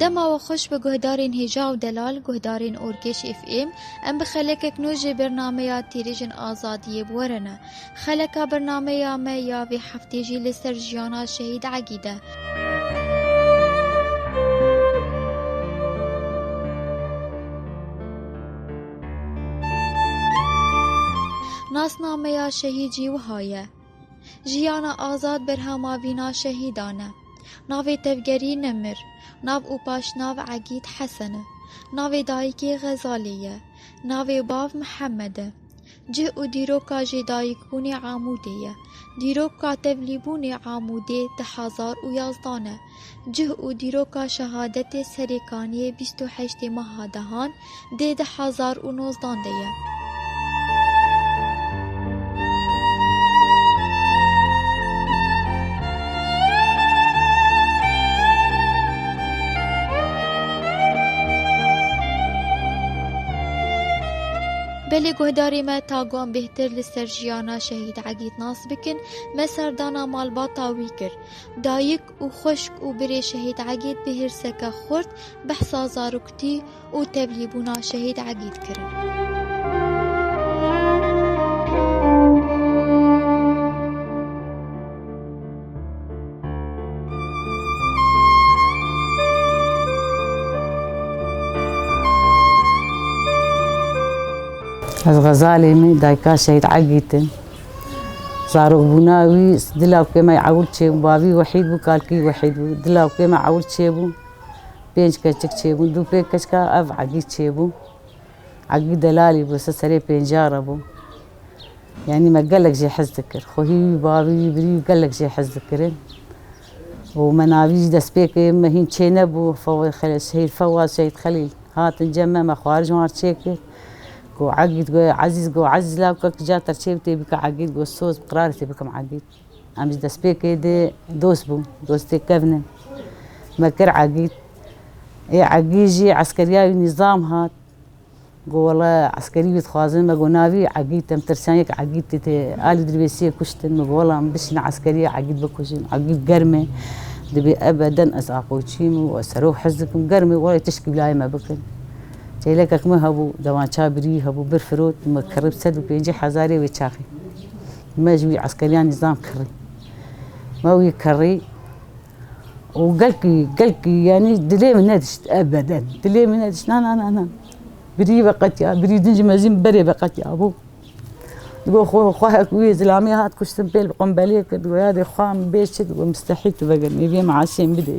Dema we xweş bi guhdarên hêja û delal, guhdarên orkêş FM, em bi xelekek nû ji bernameya Têrêjin Azadiyê bi we re ne. Xeleka bernameya me ya vê heftê jî li ser jiyana Şehîd Egîd e. Nasnameya şehîd jî wiha ye, Jiyana azad berhama vîna şehîdan e. Navê tevgerî Nemir, nav û paşnav Egîd Hesen e. Navê dayikê Xezalê ye. Navê bav Mihemed e. Cih û dîroka jêdayikbûnê Amûdê ye. Dîrokka tevlîbûnê Amûdê di hezar û yazdan e. Cih û dîroka şehadetê serê kaniyê bîst û heştê meha dehan dê du hezar û nozdan de ye. Belê guhdarê me taguan bêhtir li ser jiyana Şehîd Egîd nas bikin, me serdana malbata wî kir. Dayik û xweşk û birê şehîd Egîd bi hêrseke xurt behsa zaroktî û tevlîbûna şehîd Egîd kirin. Ez Xezalê me dayika şehîd Egîd im. Zarokbûna wî dila wê me ewil çêbû. Bavî wehîd bû, kalkî wehîd bû. Dila wê me ewil çêbû. Pênc keçik çêbûn. Dû pênc keçika ev Egî çêbû. Egî delalî bû, ser serê pêncîya re bû. Yanî me gelek jê hez dikir. Xwehî wî, bavî wî, birî wî gelek jê hez dikirin. û me navî jî destpêkê me hîn çênebû. Fewa Xelîl, Şehîd Fewa, Şehîd Xelîl hatin cem me, me xwarin ji wan re çêkir. Go Egîd go Ezîz go Ezîz la ku kija te çêb tê bike Egîd go soz bi qirarê tê bikim Egîd. Em ji destpêkê dê dost bûn, dostê kevn in. Me kir Egîd. Ê Egîd jî eskeriya wî nîzam hat. Go wele eskerî wî dixwazin me go navî Egîd em tirsiyan yek Egîd tê tê alî dirbêsiyê kuştin. Me go wela min bişîne eskeriyê Egîd bikujin. Egîd germ e. Dibê ebe den ez apoçiyim û ez serok hizb dikim. Germ e welê tişkî bi layê me bikin. Çêlekek min hebû, dewan ça birî hebû, bir firot, me kirî bi sed û pêncî hezarê wê çaxê. Me ji wî eskeriyan nîzam kirî. Me wî kirî û gelkî, gelkî yanî dilê min nedişt ev beden. Dilê min nedişt na na na na. Birî veqetiya, birî din ji mezîn berê veqetiya bû. Digo xwe xwe hek wî zilamî hat kuştin pêl bi qombelê kir. Digo ya dê xwe min bê çi digo mistehî tu vegirî vê min asiyên bidê.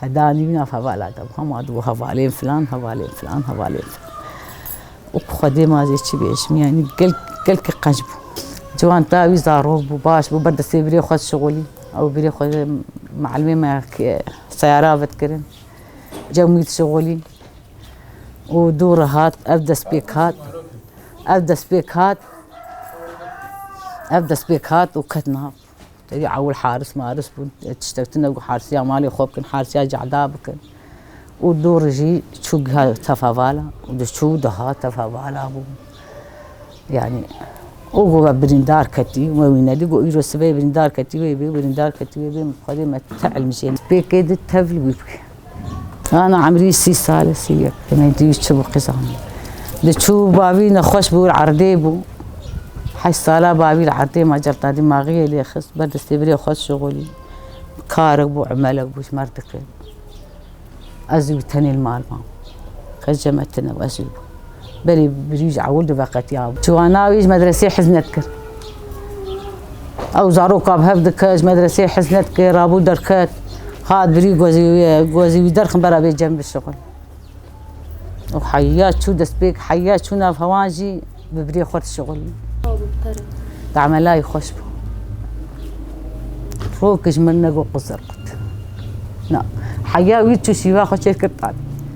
Heda nîvîna hevala de hema di bo hevalên filan, hevalên filan, hevalên filan. Û ku xwe dê ma zê çi bêjim yanî gel gel ki qenc bû. Ciwan ta wî zarok bû, baş bû, ber destê birê xwe dişixulî. Ew birê xwe de mielmê me seyara vedkirin. Cem wî dişixulî. û dû re hat ev destpêk hat ev destpêk hat ev destpêk hat û ket nav. Tevî ewil haris maris bûn. Tiştek tune got harisiya malê xwe bikin, harisiya cehda bikin. Û dû rijî çû giha tefavala û diçû diha tefavala bû. Yani o got ve birîndar ketî me wî nedî got îro sibê birîndar ketî wê bê birîndar ketî wê bê xwedê me te elmijê pêkê di tevl wî bike. Ana emrî sî sal e sî yek tenê dî çibû qizanî. Diçû bavî nexweş bû li erdê bû. Heşt sala bavî li erdê ma celta dîmaxiyê lê xist ber destê birê xwe şixulî. Karek bû emelek bû ji merdikê. Ez û tenê li mal mam. Qey cem e tune ez û. Belê bijî ji ewil diveqetiya. Ciwana wî ji medresê hez nedikir. Ew zaroka bi hev dike ji medresê hez nedike, rabû derket. Hat birî gozî wî ye, gozî wî derxin bera bê cem bi şixul. Û heya çû destpêk, heya çû nav hewan jî bi birê xwe dişixul. Damelayî xweş bû. Rok ji min negot quzir qut. Na, heya wî çû şîva xwe çêkir tat.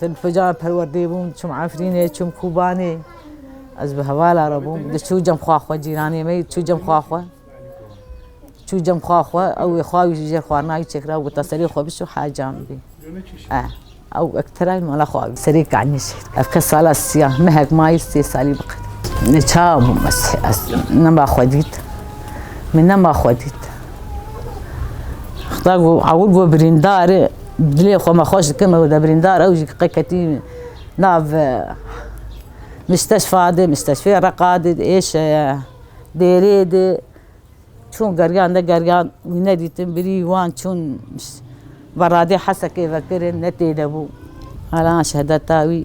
Te bi kecayê perwerdê bûm, çûm Efrînê, çûm Kûbanê. Ez bi hevala re bûm. Di çû cem xwa xwe cîranê me, çû cem xwa xwe. Çû cem xwa xwe, ew ê xwa wî ji jêr xwarina wî çêkira û ta serê xwe bişo hecan bî. Eh, ew ektere wî mala xwa wî. Serê kanî şî. Ev kes sala siya, mehek mayî sê salî bi qet. Ne çawa bûm ez, ez nema xwe dît. Min nema xwe dît. Xuda got, ewil got birîndar e. Dilê xwe me xweş dikim ew de birîndar ew jî qe ketî nav misteşfa de misteşfê reqa de êşe ye bêrê de çûn geriyan ne geriyan wî nedîtin birî wan çûn veradê hesekê vekirin ne tê de bû hela şehedeta wî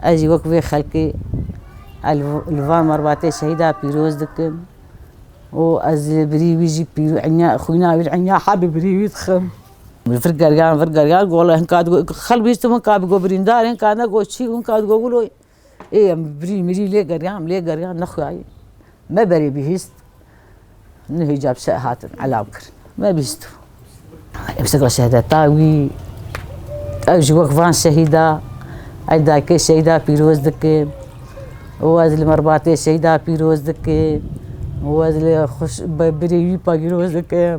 ez jî wek vê xelkê li van merbatê şehîda pîroz dikim û ez li birî wî jî xwîna wî enya hebî birî wî dixim. Vir gergan vir gergan gola hin kat got xel bîştim hin kat got birîndar hin kat ne got çî hin kat got wilo ê em birî mirî lê gergan lê gergan nexweyayî me berê bihîst nu hêca bi şer hatin elav kir me bihîstim em şekla şehedeta wî ew ji wek van şehîda ey dayikê şehîda pîroz dikim û ez li merbatê şehîda pîroz dikim û ez li xweş birê wî pa pîroz dikim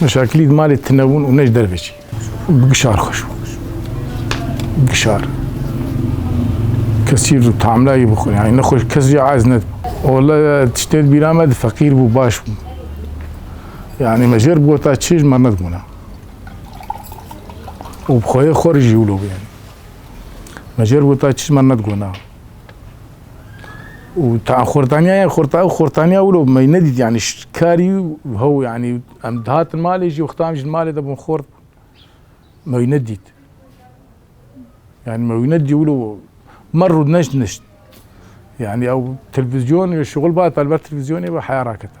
Meşakilî di malê tine bûn û ne ji derve jî. Bi gişar xweş bû. Gişar. Kesîr û tamlayî bixwe. Yani nexweş kes jî ez nedibû. Ola tiştê di bîra me di feqîr bû baş bû. Yani me jêr bi gota çêj me nedibûna. Û bi xweyê xwe jî wilo bû yani. Me jêr bi gota çêj me nedibûna. û ta xurtaniya ye xurta û xurtaniya wilo me nedît yanî karî hew yanî em dihatin malê jî wexta em ji malê de bûn xort me wî nedît. Yani me wî nedî wilo me rû neşt neşt. Yani ew televîzyonê şixul ba telber televîzyonê ve heya rakete.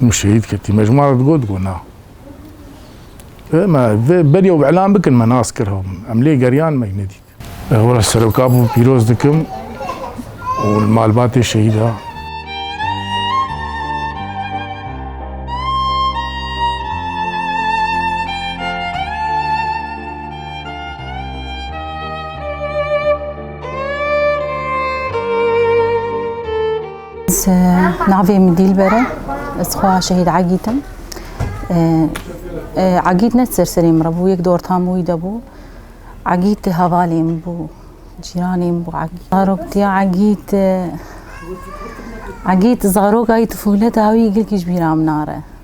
Min şehîd ketî. Me ji wan re digot ku na. E me vê beriya û îlan bikin me nas kir hev min. Em lê geriyan me nedît. Hev re seroka bû pîroz dikim û li malbatê şehîda. Ez e, navê min Dîlber e. Ez xweha şehîd Agît im. Agît ne ser serê min re bû, yek di orta min wî de bû. Agît tê hevalê min bû, cîranê min bû Agît. Zarok diya Agît Agît zarokayî tifûleta wî girkî ji bîra min nare.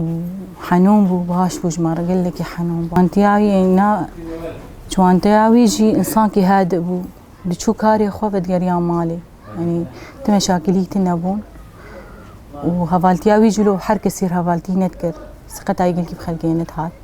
û henûn bû, baş bû ji me re gelekî henûn bû. Çanteya wî na çanteya wî jî insankî hedi bû. Diçû karê xwe vedigeriya malê. Yanî ti meşakilî ti nebûn. Û hevaltiya wî jî lo her kesî hevaltî nedikir. Siqeta yekî bi xelkê nedihat.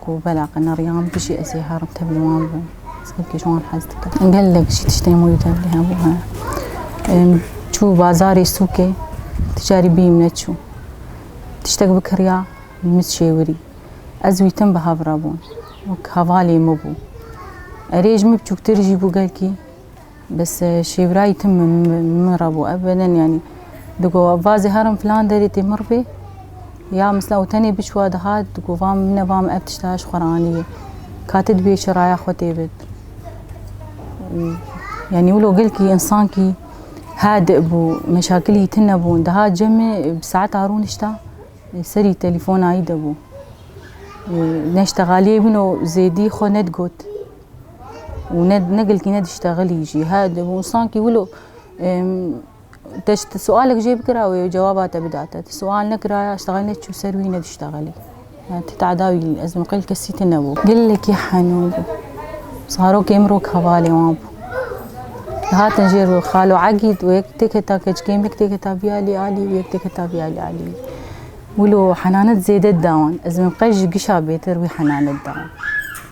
Ku bela qeneriyan bijî ez ê herim tevlî wan bim. Ez xelkê ji wan hez dikim. Gelek jî tiştên wî tevlî hebû he. Em çû bazarê sûkê tu carî bîyîm neçû. Tiştek bikiriya mit şêwirî. Ez wî tim bi hev re bûn. Wek hevalê min bû. Erê ji min biçûktir jî bû gelkî. Bes şêwirayî tim min re bû ev beden yanî digo vazê herin filan derê tê mir bê ya misla û tenê biçûwa dihat digo vam min e vam ev tişta ji xwe re anîbê katê dibê çi raya xwe tê bit yanî wilo gilkî insankî hadi bû meşakilî tin nebûn diha cemê bi saeta rû nişta serî telefona yî de bû neştegaliyê bûn û zêdî xwe nedigot û ne negilkî ne diştexilî jî he dibûn sankî wilo te ji sualek jê bikira wê cewaba te bida te sual nekiraya ji texil neçû ser wî ne diştexilî te teda wî ez miqil kesî te nebû gelekî henû bû zarokê min rok hevalê wan bû hatin jê ro xalo egî û yek têketa keçkê min yek têketa biyalî alî û yek têketa biyalî alî wilo henanet zêde dawan ez min qej ji gişa bêtir wî henanet dawan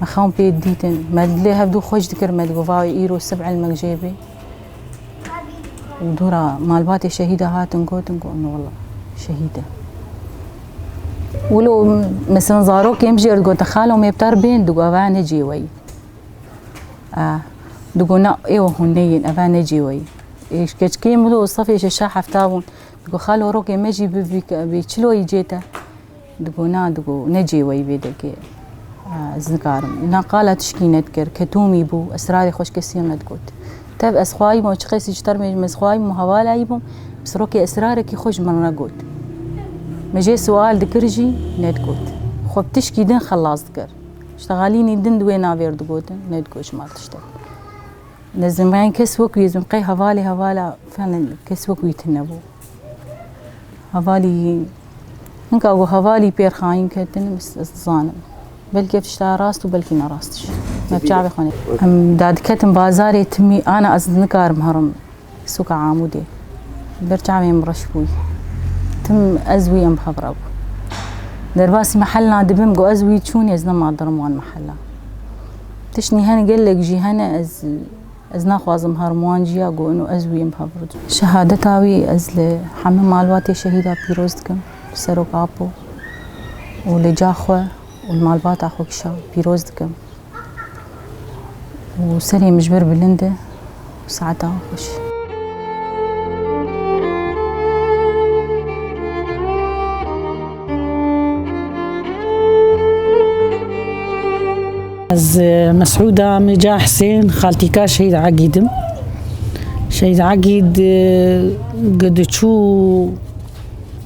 Me xewn pê dîtin. Me lê hevdû xweş dikir me digot vay îro sib elmek jê bê. Û dûra malbatê şehîda hatin gotin got ne wala şehîd e. Û lo mesela zarokê em jêr digot xalo mêptar bên digot eva ne cê weyî. Digot ne êwa hûn neyên eva ne cê weyî. Keçkêm wilo safê şeşa hefta bûn. Digot xalo rokê me jî bibî çiloyî cê te. Digo na digo ne cê we yî vê degê ez nikarim. Na qala tişkî nedikir, ketomî bû, esrarê xwe ji kesî nedigot. Tev ez xwayîbûm ew çi qesî ji termê jim ez xwayîbûm hevalayîbûm, bi sirokê esrarekî xwe ji min re got. Me jê siwal dikir jî nedigot. Xwe bi tişkî din xelas dikir. Ji Tegalînî din di wê navê re digotin, nedigot ji mal tiştek. Ne zimreyên kes wek wî ez bûm, qey hevalê hevala kes wek wî tune bû. Hevalî Hin ka ku hevalî pêr xayîn ketin, ez dizanim. Belkî ev tişta rast û belkî nerastîş. Me bi çavê xwe nê. Em da diketin bazarê timî, ana ez nikarim herim sûka Amûdê. Ber çavên min reş bûy. Tim ez wî em bi hev re bû. Derbasî mehelna dibim ku ez wî çûnê ez nema dirim wan mehela. Tiştî hene gelek jî hene ez Ez naxwazim harmwan jiya ku inu ez wî im hevrûd. Şehadeta wî ez li heme malbatê şehîda pîroz dikim li Serok Apo û li ca xwe û li malbata xwe kişa pîroz dikim û serê min ji wir bilind e û saeta wî xweş e. Ez Mesûda Mîca Hisên xaltîka Şehîd Egîdim. Şehîd Egîd gidiçû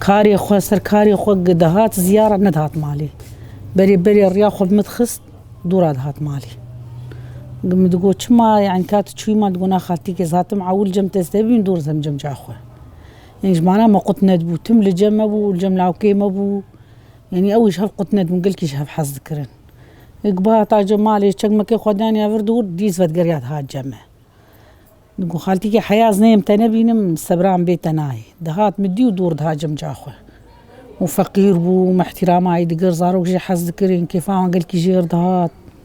karê xwe ser karê xwe gidihat ziyara nedihat malê. Berê berê riya xwe bi min dixist dûra dihat malê. Min digot çima yani kat çûyî man digona xaltîkê zatim ewil cem testebîm dûr zem cem ca xwe. Jimana me qutne dibû. Tim li cem me bû û li cem lawkê me bû. Yanî ew jî hev qutne dibûn, gelkî jî hev hez dikirin. Êk ba heta cem malê çekmekê xwe daniya vir dûr, dîs vedgeriya dihat cem me. Digo xaltîkê heya ez neyêm te nebînim, sebran bê te nayê. Dihat min dî û dûr dihat cemca xwe. Û feqîr bû û me îhtîrama wî digir, zarok jî hez dikirin, kêfa wan gelkî jêr dihat.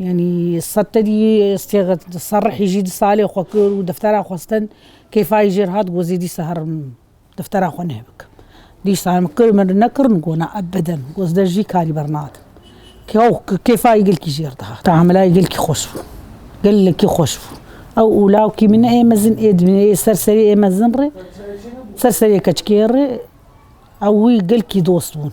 Yanî Settedî Sêxet Serrihî jî di salê xwe kir û deftera xwestin kêfayî jê re hat got zêdî sehar em deftera xwe nêbikim. Dîsa em kir min re nekirin got na ebeden got ez der jî karî bernadim. Kew kêfayî gelkî jê re dihat. Tamilayê gelkî xweş bû. Gelekî xweş bû. Ew û lawikî min ê mezin ê dibîne ê ser serê ê mezin re ser serê keçikê re ew wî gelkî dost bûn.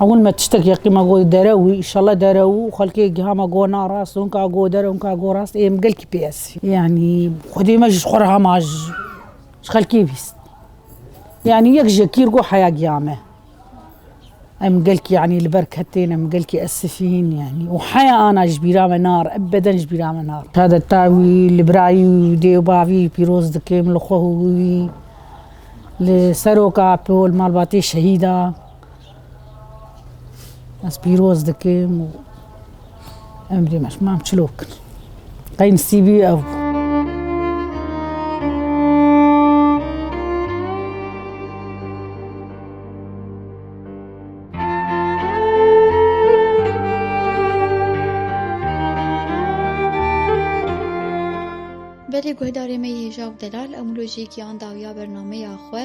Ewil me tiştek yeqî me got dere wî îşallah dere û xelkê giha me got na rast hûn ka got dere hûn ka got rast ê min gelkî pê esî. Yanî xwedê me jî ji xwe re hema ji xelkê vîst. Yanî yek ji kîr got heya giya me. Em gelkî yanî li ber ketên em gelkî esifîn yanî û heya ana ji bîra me nare ebeden ji bîra me nare. Şehadeta wî li birayî û dê û bavî pîroz dikim li xwe û wî li seroka pol malbatê şehîda. Ez pîroz dikim û emrê me ji mam çilo kin. Qey nisîbî ew bû. Belê guhdarê me yê Hêja û Delal emûlojiyekî anda û ya bernameya xwe